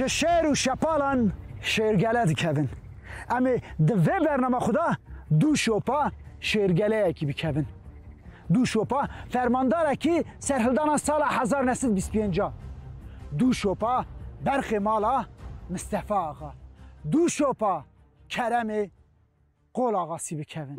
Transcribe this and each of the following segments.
ji şêr û şepalan şêrgele dikevin. Em ê di vê bername xwe de dû şopa şêrgeleyekî bikevin. Du şopa fermandarekî serhildana sala hezar neh sed bîst pênc a. Du şopa berxê mala Mistefa Axa. Du şopa keremê Qol Axa sî bikevin.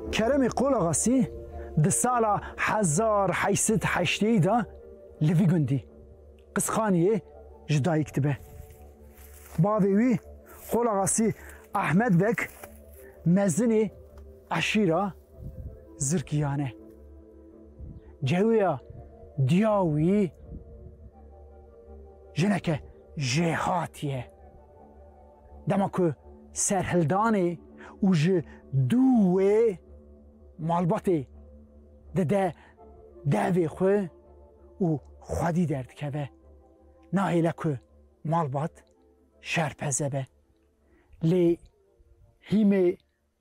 Keremê Qolaxasî di sala hezar heşt sed û heştê de li vî gundî, Qisxaniyê, ji dayik dibe. Bavê wî Qolaxasî Ehmed Beg mezinê eşîra Zirkiyan e. Cewiya diya wî jineke jêhatî ye. Dema ku serhildanê û ji dû wê malbatê dide devê xwe û xwedî derdikeve, nahêle ku malbat şerpeze be. Lê hîmê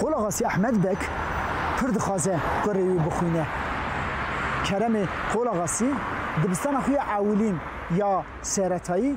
Qolagasi Ehmed Beg pir dixwaze kurê wî bixwîne. Keremê Qolagasi dibistana xwe ya ewilîn ya seretayî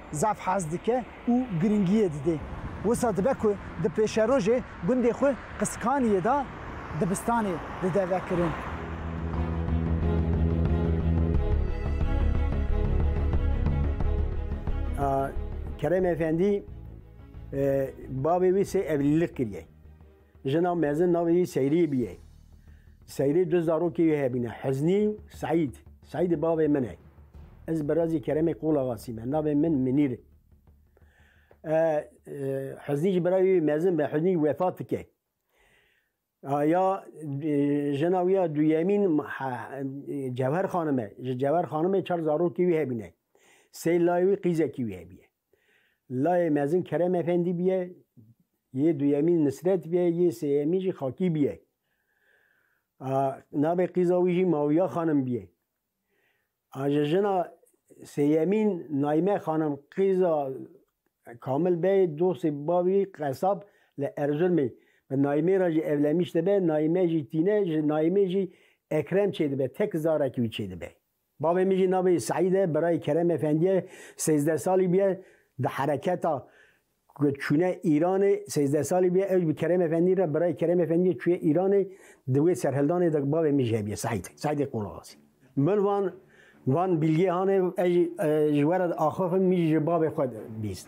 zaf hez dike û girîngiyê didê. Wisa dibe ku di pêşerojê gundê xwe Qiskaniyê de dibistanê dide vekirin. Kerem Efendî bavê wî sê evlîlik kiriye. Jina mezin navê wî Seyrî bûye. Seyrî du zarokê wî hebûne Huznî û Seîd. Seîdî bavê min e. Ez birazê Keremê Qulaxasî me. Navê min Minîr e. Huznî jî birayê wî mezin be. Huznî wefat dike. Ya jina wî ya duyemîn Cewher xanim e. Ji Cewher xanimê çar zarokê wî hebûne. Sê layê wî qîzekî wî hebûye. Layê mezin Kerem Efendî bûye, yê duyemîn Nisret bûye, yê sêyemîn jî Xakî bûye. A navê qîza wî jî Mawiya Xanim bûye. A ji jina sêyemîn Naîme Xanim qîza Kamil Bey dostê bavî qesab li Erzurmê bi Naîmê re jî evlenmiş dibe, Naîme jî tîne, ji Naîmê jî Ekrem çêdibe, tek zarekî wî çêdibe. Bavê min jî navê Seîd e, birayê Kerem Efendî ye, sêzdeh salî bûye di hereketa ku çûne Îranê sêzdeh salî bûye ewj bi Kerem Efendî re birayê Kerem Efendî ye çûye Îranê di wê serhildanê de bavê min jî hebûye Seîd, Seîdê Qolaxasî. Min van van bîlgê hanê ez jî ji we re diaxifim min jî ji bavê xwe bîst.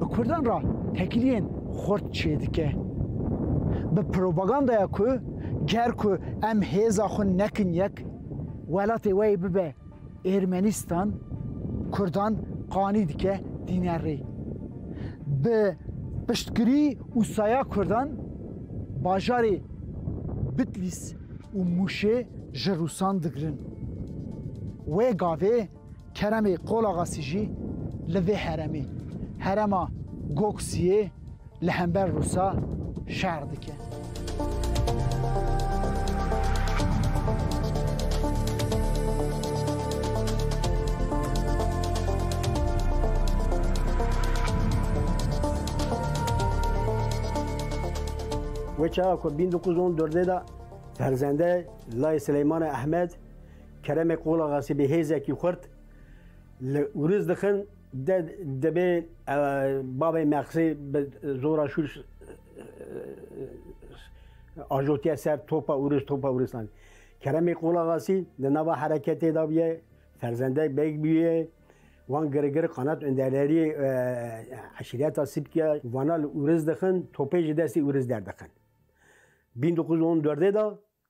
Bi Kurdan re tekiliyên xurt çêdike. Bi propagandaya ku ger ku em hêza xwe nekin yek, welatê we yê bibe Ermenistan, Kurdan qanî dike tîne rê. Bi piştgirî û saya Kurdan bajarê Bitlîs û Mûşê ji Rûsan digirin. Wê gavê Keremê Qolaxasî jî li vê heremê, herema Goksiyê li hember Rûsa şer dike. Wê çawa ku bîn du ku zon durdê de ferzendê Lay Sileymanê Ehmed Keremê Qulaxasî bi hêzekî xurt li Ûriz dixin de dibê bavê Mexsê bi zora şûr ajotiye ser topa Ûriz topa Ûristan. Keremê Qulaxasî di nava hereketê de bûye ferzendek bek bûye wan girigir qanat öndererî eşîreta Sipkiya vana li Ûriz dixin topê ji destê Ûriz derdixin. 1914 de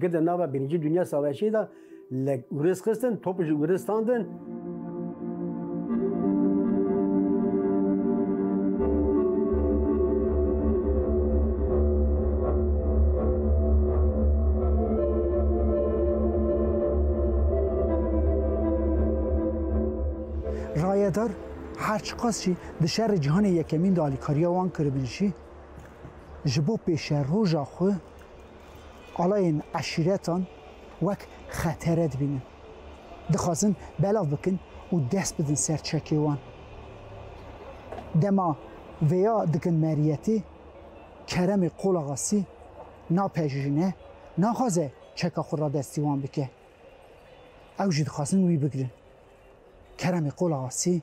Gi di nava Birinci Dünya Savaşê de li Uris xistin, top ji Uris standin. Rayedar her çiqas jî di şerê cîhanê yekemîn de alîkariya wan kiribin jî, ji bo pêşeroja xwe alayên eşîretan wek xetere dibînin. Dixwazin belav bikin û dest bidin ser çekê wan. Dema vêya dikin Meriyetê, Keremê Qolaxasî napejirîne, naxwaze çeka xwe radestî wan bike. Ew jî dixwazin wî bigirin. Keremê Qolaxasî.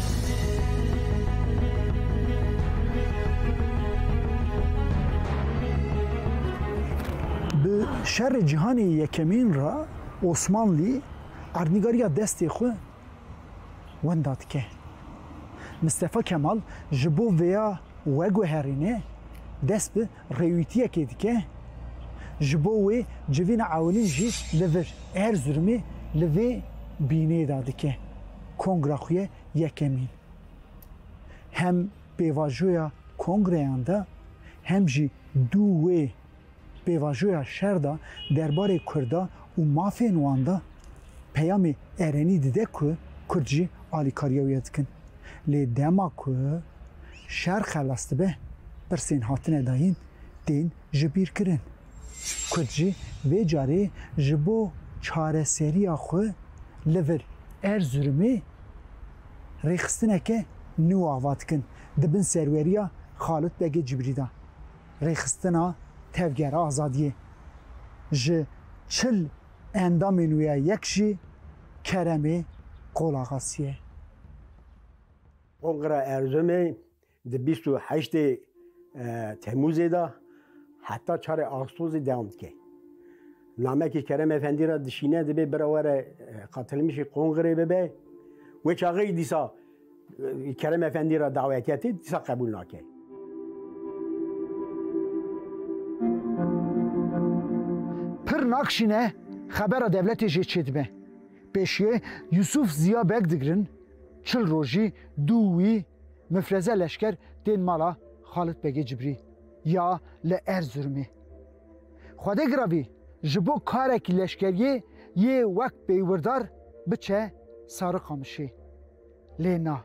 Bi şerê cîhanê yekemîn re Osmanlî erdnîgariya destê xwe wenda dike. Mistefa Kemal ji bo vêya weguherîne dest bi Rêwîtiyekê dike, ji bo wê civîna ewilîn jî li vir. Erzurumê li vê bînê de dike kongra xwe yekemîn. Hem pêvajoya kongreyan de hem jî dû wê pêvajoya şer de derbarê Kurda û mafên wan de peyamê erenî dide ku Kurd jî alîkariya wê dikin. Lê dema ku Şer xelas dibe, pirsên hatine dayîn tên jibîrkirin. Kurd jî vê carê ji bo çareseriya xwe li vir Erzurumê rêxistineke nû ava dikin di bin serweriya Xalit Begê Cibrî de. Rêxistina Tevgera Azadiyê ji çil endamên wê ya yek jî Keremê Qolaxasî ye. Kongra Erzurumê di bîst û heştê Temmûzê de heta çarê Axûstosê dewam dike. Namekî Kerem Efendî re dişîne dibê bira we re qatilmişî kongrê bibe. Wê çaxeyî dîsa Kerem Efendî re dawetiyetê dîsa qebûl nake. Pir nakşîne xebera dewletê jê çêdibe. Pêşiyê Yusuf Ziya Beg digirin. Çil rojî dû wî mifreze leşker tên mala Xalit Begê Cibrî ya li Erzurumê. Xwedê giravî ji bo karekî leşkeriyê yê wek pêywırdar biçe Sarıkamışê. Lê na.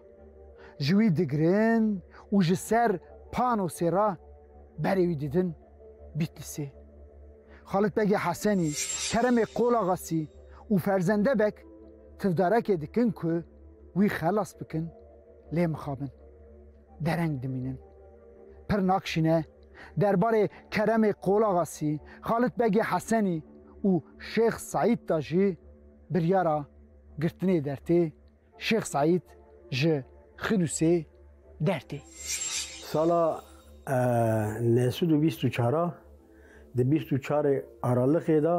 Ji wî digirin û ji ser panosê re berê wî didin Bîtlisê. Xalit Begê Hesenî, Keremê Qolaxasî û ferzendebek Tivdarekê dikin ku wî xelas bikin lê mixabin, dereng dimînin. Pir nakşîne derbarê Keremê Qolaxasî, Xalit Begê Hesenî û Şêx Seîd de jî biryara girtinê dertê Şêx Seîd ji Xidûsê dertê. Sala neh sed û bîst û çar a di bîst û çarê Araliqê de,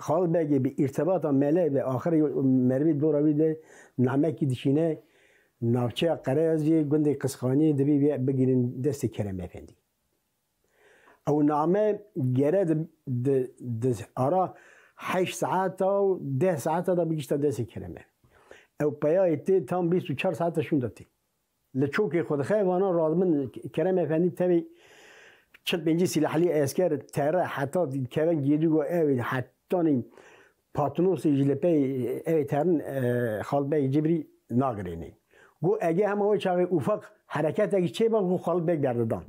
Xal Begê bi îrtibata mele ve axirê merivê dora wî de namekî dişîne navçeya Qereyaziyê gundê Qisxaniyê dibî vê bigirîn destê Kerem Efendî. Ew name gere di ara heşt saeta û deh saeta de bigişta destê Kerem Efendî. Ew peyayê tê tam bîst û çar saeta şûnda tê. Li çokê xwe dixe vana radmin Kerem Efendî tevî çil pêncî sîlahlî esker tere heta kevin gêdû got ew ê hetanî Patnosê jî li pey ew ê terin Xalid Beg Cibrî nagirênê. Got ege hema wê çaxê ûfeq hereketekî çêba ku Xalid Beg berdidan.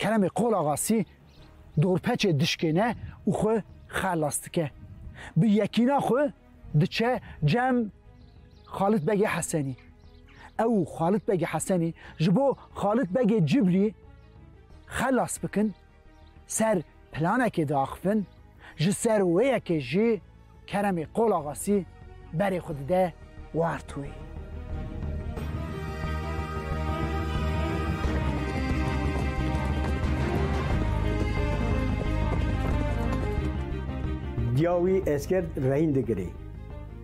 Keremê Qolaxasî dorpeçê dişkêne û xwe xelas dike. Bi yekîna xwe diçe cem Xalit Begê Hesenî. Ew û Xalit Begê Hesenî ji bo Xalit Begê Cibrî xelas bikin, ser planekê diaxivin, ji ser wê yekê jî, Keremê Qol Axasî berê xwe dide wert wê. Diya wî esker rehîn digirê.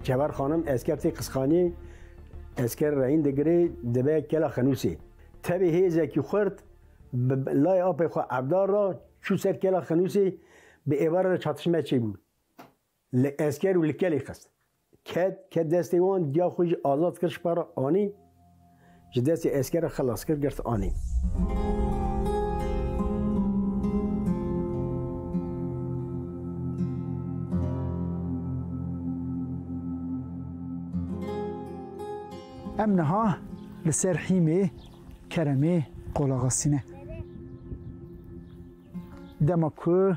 Çever xanim esker tê qisxanî, esker rehîn digirê dibe kela xenûsê. Tevê hêzekî xurt bi layê apê xwe evdar ra çû ser kela xenûsê bi êvar re çatişme çêbû. Li esker û li kelê xist. Ket, ket destê wan, diya xwe jî azad kir ji para anî, ji destê esker re xilas kir girt anî. Em niha li ser hîmê Keremê qolaxistîne. Dema ku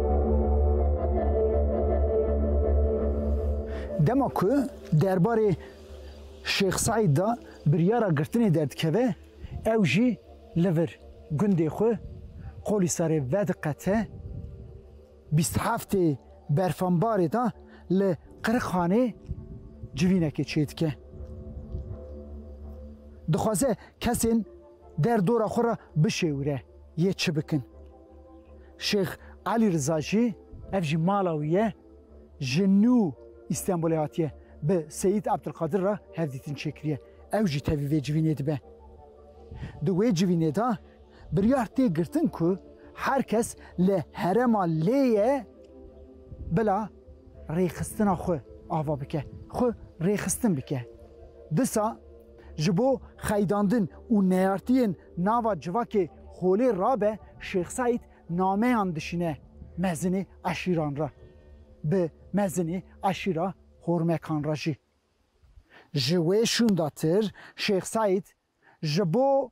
Dema ku derbarê Şêx Seîd de biryara girtinê derdikeve, ew jî li vir gundê xwe Qolîsarê vediqete. Bîst heftê berfambarê de li Qirixanê civînekê çêdike. Dixwaze kesên der dora xwe re bişêwire yê çi bikin. Şêx Elî Riza jî ev jî mala wî ye ji nû Îstenbolê hatiye bi Seyîd Ebdulkadir re hevdîtin çêkiriye. Ew jî tevî vê civînê dibe. Di wê civînê de biryar tê girtin ku her kes li herema lê ye bila rêxistina xwe ava bike, xwe rêxistin bike. Disa Ji bo xeydandin û neyartiyên nava civakê Xolê rabe Şêx Seîd nameyan dişîne mezinê eşîran re, bi mezinê eşîra Hormekan re jî. Ji wê şûndatir Şêx Seîd ji bo.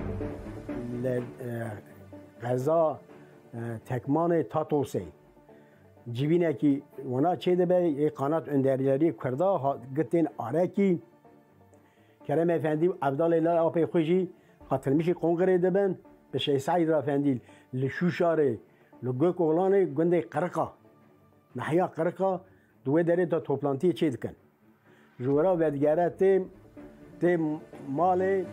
Li qeza Tekmanê Tatosê civînekî wina çêdibe yê Qanat Underlerî Kurda hat girtin arekî. Kerem Efendî û Evdalê Lal Apê xwe jî qatilmişî Qongirê dibin. Bi Şêh Seîd Rafendî li Şûşarê li Gokoxlanê gundê Qiriqa Nahya Qiriqa Di wê derê de toplantiyê çê dikin. Ji we re vedigere tê tê malê.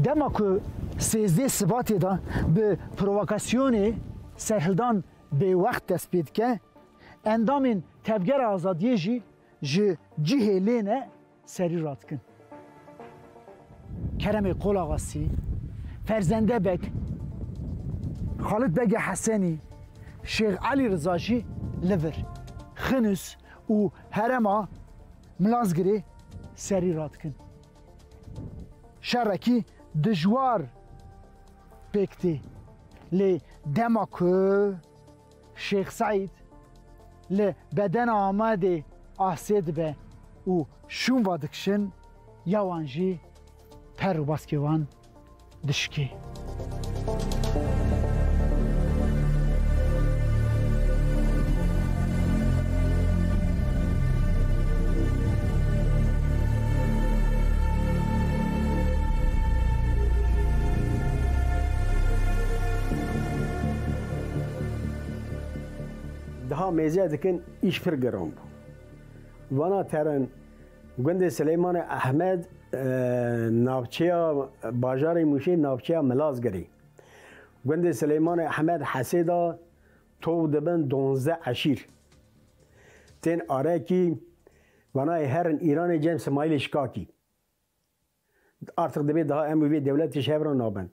Dema ku sêzdeh Sibatê de bi provokasyonê serhildan bêwext dest pê dike, endamên Tevgera Azadiyê jî Ji cihê lêne serî radikin. Keremê Qolaxasî, Ferzende Beg, Xalit Begê Hesenî, Şêx Elî Riza jî li vir, Xinûs û herema Milazgirê serî radikin. Şerekî dijwar pêk tê lê dema ku. Şêx Seîd li bedena Amedê asê dibe û şûnva dikişin ya wan jî per û baskê wan dişikê. Daha mêze dikin îş pir giran bû. Vana terin gundê Silêmanê Ehmed navçeya bajarê Mûşê navçeya Milazgirê. Gundê Silêmanê Ehmed Hesê da tov dibin donze eşîr. Tên arekî vanayê herin Îranê cem Simaîlê Şikakî. Artik dibê daha em û vê dewletê ji hev re nabin.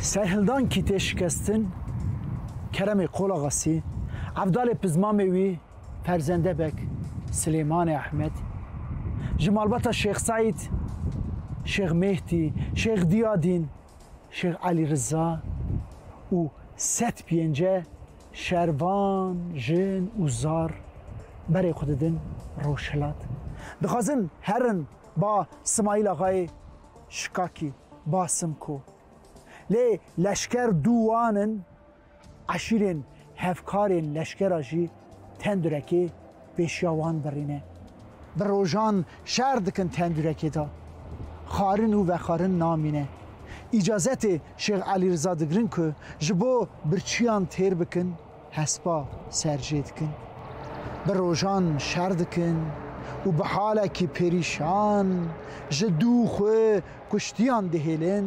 Serhildan Kîtê Şikestin, Keremê Qolaxasî, Evdalê Pizmamê wî, Ferzende Beg, Silêmanê Ehmed, ji malbata Şêx Seîd, Şêx Mêhdî, Şêx Diyadîn, Şêx Elî Riza û sed pênce Şervan, jin û zar berê xwe didin rojhilat. Dixwazin herin ba Simayîl Axayê Şikakî, ba Simko. Lê leşker dû wan in, eşîrên hevkarên leşkera jî tendirekê pêşiya wan birîne. Bi rojan şer dikin tendurekê de xwarin û vexwarin namîne. Îcazetê Şêx Elî Riza digirin ku ji bo birçîyan têr bikin hespa ser jê dikin. Bi rojan şer dikin û bi halekî perîşan ji dû xwe kuştiyan dihêlin.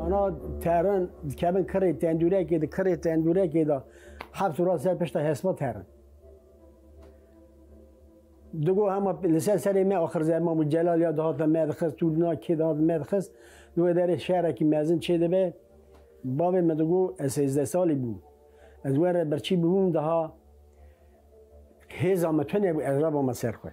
Ana terin dikevin kirê tendûrekê de kirê tendûrekê de heft û ser pişta hesba terin. Digo hema li ser serê me axir zerma bû celal ya dihata me dixist û na kê dihat me dixist li wê derê şerekî mezin çê dibe bavê me digo ez sêzdeh salî bûm ez were birçî bûm daha hêza me tune bû ez rabama ser xwe.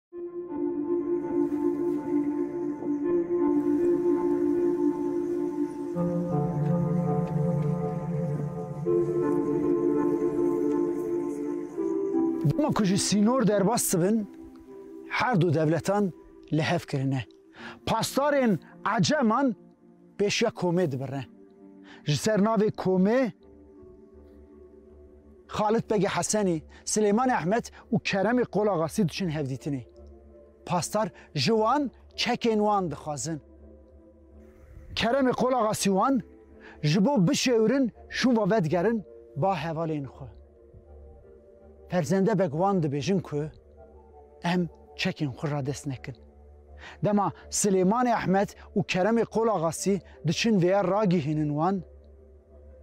Dema ku ji sînor derbas dibin, her du dewletan li hev kirine. Pasdarên Eceman Pêşiya komê dibirne. Ji ser navê komê Xalit Begê Hesenî, Silêmanê Ehmed û Keremê Qolaxasî diçin hevdîtinê. Pasdar ji wan çekên wan dixwazin. Keremê Qolaxasî wan ji bo bişêwrin şûva vedigerin ba hevalên xwe. Ferzendebek wan dibêjin ku em çekên xwe radest nekin. Dema Silêmanê Ehmed û Keremê Qolaxasî diçin vêya ragihînin wan,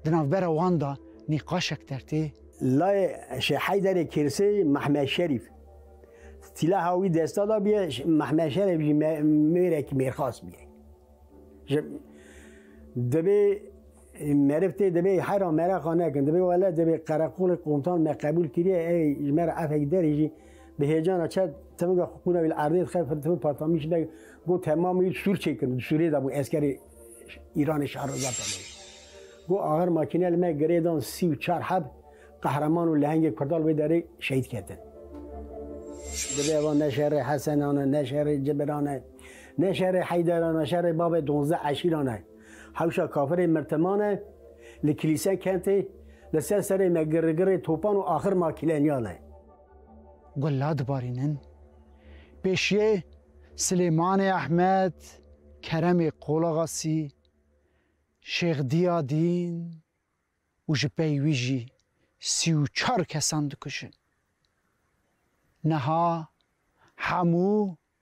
di navbera wan de nîqaşek dertê, Layê Şêh Heyderê Kirsê Mehmed Şerîf sîlaha wî desta dabiye, Mehmed Şerîf jî mêrekî mêrxas bûye. Ji dibê Meriv tê divê hera mereqa nekin. Divê wele divê qereqolê qomtan me qebûl kiriye ey ji me re efek derê jî bi hêcana çe timinga xwe qûna wî li erdê dixe timin patamî ji de got temam wî sûr çêkin. Sûrê de bû eskerê Îranê şariza pemê. Got axir makîne li me girê dan sî û çar heb qehreman û lehengê Kurdan li wê derê şehîd ketin. Divê evan ne şerê Hesenan e, ne şerê Cibiran e, ne şerê Heyderan e, şerê bavê donzdeh eşîran e. Hewşa kafirên mertemane li kilîse kentê li ser serê me girrigirrê topan û axir makîleniyan e. Gula dibarînin. Pêşiyê Silêmanê Ehmed, Keremê Qolaxasî, Şêx Dîya Dîn û ji pey wî jî sî û çar kesan dikujin. Niha hemû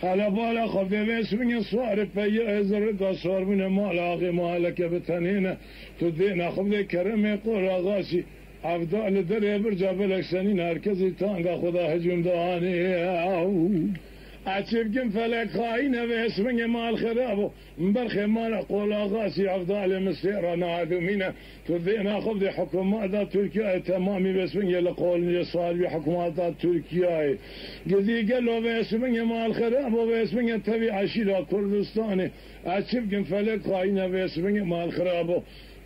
Hele bala xwe vêve şûnê swari peyê ez ê rika şarbûnê mala axê ma heleke bi tenê ne tu dêne xwe vê keremê qol axa şî ev da li derê birca belek şenîn her kesî tanga xwe da hicûm da anê ew eçê bikim felek xaîn ev ê şûnê mal xerab o. Min ber xêmana Qolaxa Siyah Dalê min sê ra neadomîne ku vê naxivdê hikûmeta Tirkiyayê temamî vêsvingê li qolincê salvî hikûmeta Tirkiyayê gidî gelo vêsvingê ma alxera bo vêsvingê tevî eşîra Kurdistanê ez çi bikim felek xayîne vêsvingê ma alxera bo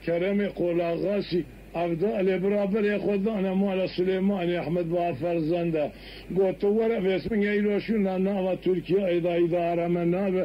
keremê Qolaxa Siyah Dalê bira berê xwe dane mala Silêmaniyê Ehmed Baha Ferzende got tu were vêsvingê îro şûna nava Tirkiyayê da îdare me nabe